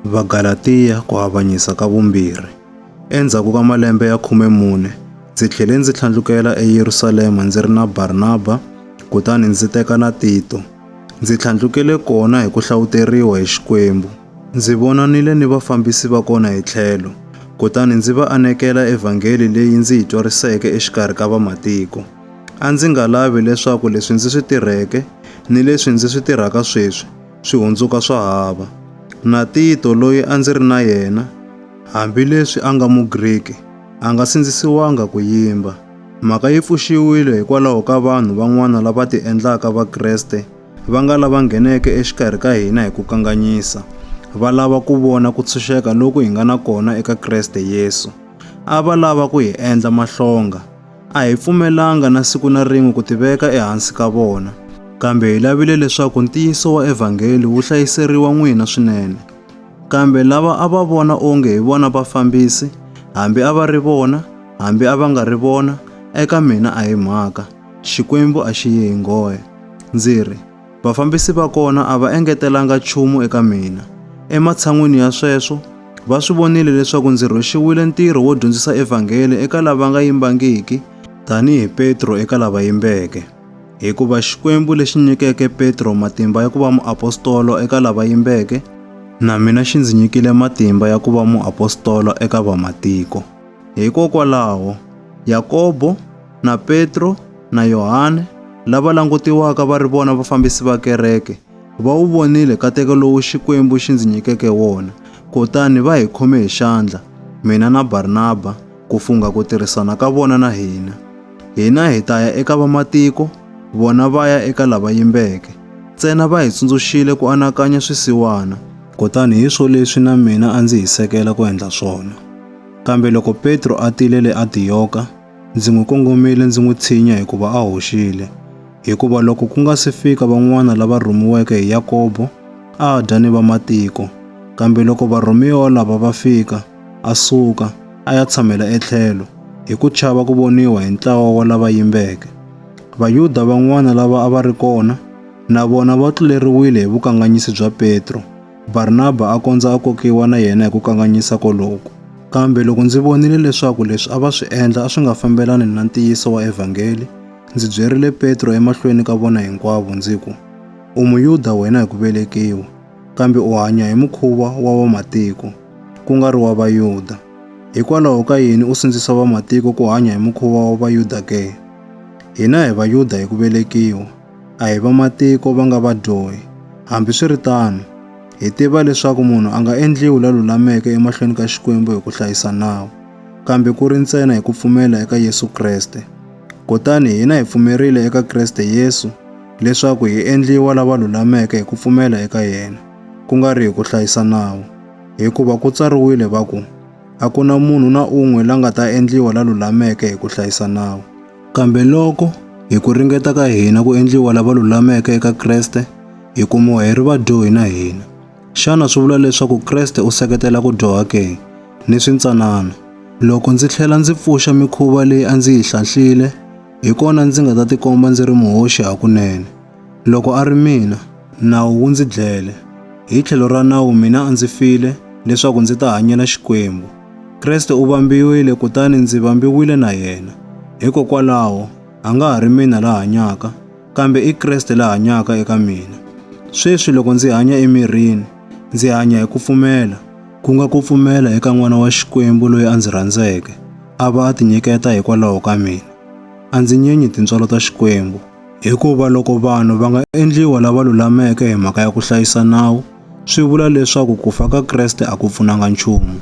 Vagalatiya ku avanyisa ka vumbirhi. Endzhaku ka malembe ya khume mune, ndzi tlhele ndzi tlhandlukela eYerusalema ndzi ri na Barnaba, kutani ndzi teka na Tito. Ndzi tlhandlukele kona hi ku hlawuteriwa hi Xikwembu. Ndzi vonanile ni vafambisi va kona hi tlhelo, kutani ndzi va anekela evhangeli leyi ndzi yi twariseke exikarhi ka vamatiko. A ndzi nga lavi leswaku leswi ndzi swi tirheke ni leswi ndzi swi tirhaka sweswi swi hundzuka swa hava. Na Tito, loyi a ndzi ri na yena, hambileswi a nga Mugriki, a nga sindzisiwanga ku yimba. Mhaka yi pfuxiwile hikwalaho ka vanhu van'wana lava tiendlaka Vakreste va nga lava ngheneke exikarhi ka hina hi ku kanganyisa, va lava ku vona ku tshunxeka loku hi nga na kona eka Kreste Yesu. A va lava ku hi endla mahlonga. A hi pfumelanga na siku na rin'we ku tiveka ehansi ka vona, kambe hi lavile leswaku ntiyiso wa evhangeli wu hlayiseriwa n'wina swinene. Kambe lava a va vona onge hi vona vafambisi, hambi a va ri vona, hambi a va nga ri vona, eka mina a hi mhaka. Xikwembu a xi yi hi nghohe. Ndzi ri, Vafambisi va kona a va engetelanga nchumu eka mina. Ematshan'wini ya sweswo, va swi vonile leswaku ndzi rhwexiwile ntirho wo dyondzisa evhangeli eka lava nga yimbangiki tanihi Petro eka lava yimbeke. Hikuva Xikwembu lexi nyikeke Petro matimba ya ku va muapostolo eka lava yimbeke, na mina xi ndzi nyikile matimba ya ku va muapostolo eka Vamatiko. Hikokwalaho, Yakobo, na Petro na Yohane lava langutiwaka va ri vona vafambisi va kereke va wu vonile kateko lowu Xikwembu xi ndzi nyikeke wona, kutani va hi khome hi xandla, mina na Barnaba, ku fungha ku tirhisana ka vona na hina. Hina hi ta ya eka vamatiko, vona va ya eka lava yimbeke. Ntsena va hi tsundzuxile ku anakanya swisiwana, kutani hi swo leswi na mina a ndzi hi sekela ku endla swona. Kambe loko Petro a tile le Antiyoka, Ndzi n'wi kongomile ndzi n'wi tshinya hikuva a hoxile. Hikuva loko ku nga si fika van'wana lava rhumiweke hi Yakobo, a a dya ni vamatiko. Kambe loko varhumiwa lava va fika, a suka, a ya tshamela etlhelo, hi ku chava ku voniwa hi ntlawa wa lava yimbeke. Vayuda van'wana lava a va ri kona, na vona va tluleriwile hi vukanganyisi bya Petro. Barnaba a kondza a kokiwa na yena hi ku kanganyisa koloku. Kambe loko ndzi vonile leswaku leswi a va swi endla a swi nga fambelani na ntiyiso wa evhangeli, ndzi byerile Petro emahlweni ka vona hinkwavo ndzi ku, U Muyuda wena hi ku velekiwa, kambe u hanya hi mukhuva wa vamatiko, ku nga ri wa Vayuda. Hikwalaho ka yini u sindzisa vamatiko ku hanya hi mukhuva wa Vayuda ke? Hina hi Vayuda hi ku velekiwa. a hi vamatiko va nga vadyohi. Hambiswiritano, hi tiva leswaku munhu a nga endliwi la lulameke emahlweni ka Xikwembu hi ku hlayisa nawu, kambe ku ri ntsena hi ku pfumela eka Yesu Kreste. Kutani hina hi pfumerile eka Kreste Yesu leswaku hi endliwa lava lulameke hi ku pfumela eka yena, ku nga ri hi ku hlayisa nawu. Hikuva ku tsariwile va ku, A ku na munhu na un'we la nga ta endliwa la lulameke hi ku hlayisa nawu. Kambe loko hi ku ringeta ka hina ku endliwa lava lulameke eka Kreste, hi kumiwa hi ri vadyohi na hina. Xana swi vula leswaku Kreste u seketela ku dyoha ke? Ni swintsanana. Loko ndzi tlhela ndzi pfuxa mikhuva leyi a ndzi yi hlanhlile, hi kona ndzi nga ta tikomba ndzi ri muhoxi hakunene. Loko a ri mina, nawu wu ndzi dlele. Hi tlhelo ra nawu mina a ndzi file, leswaku ndzi ta hanyela Xikwembu. Kreste u vambiwile kutani ndzi vambiwile na yena. Hikokwalaho, a nga ha ri mina la hanyaka, kambe i Kreste la hanyaka eka mina. Sweswi loko ndzi hanya emirini, ndzi hanya hi ku pfumela, ku nga ku pfumela eka N'wana wa Xikwembu loyi a ndzi rhandzeke, a va a tinyiketa hikwalaho ka mina. A ndzi nyenyi tintswalo ta Xikwembu. Hikuva loko vanhu va nga endliwa lava lulameke hi mhaka ya ku hlayisa nawu, swi vula leswaku ku fa ka Kreste a ku pfunanga nchumu.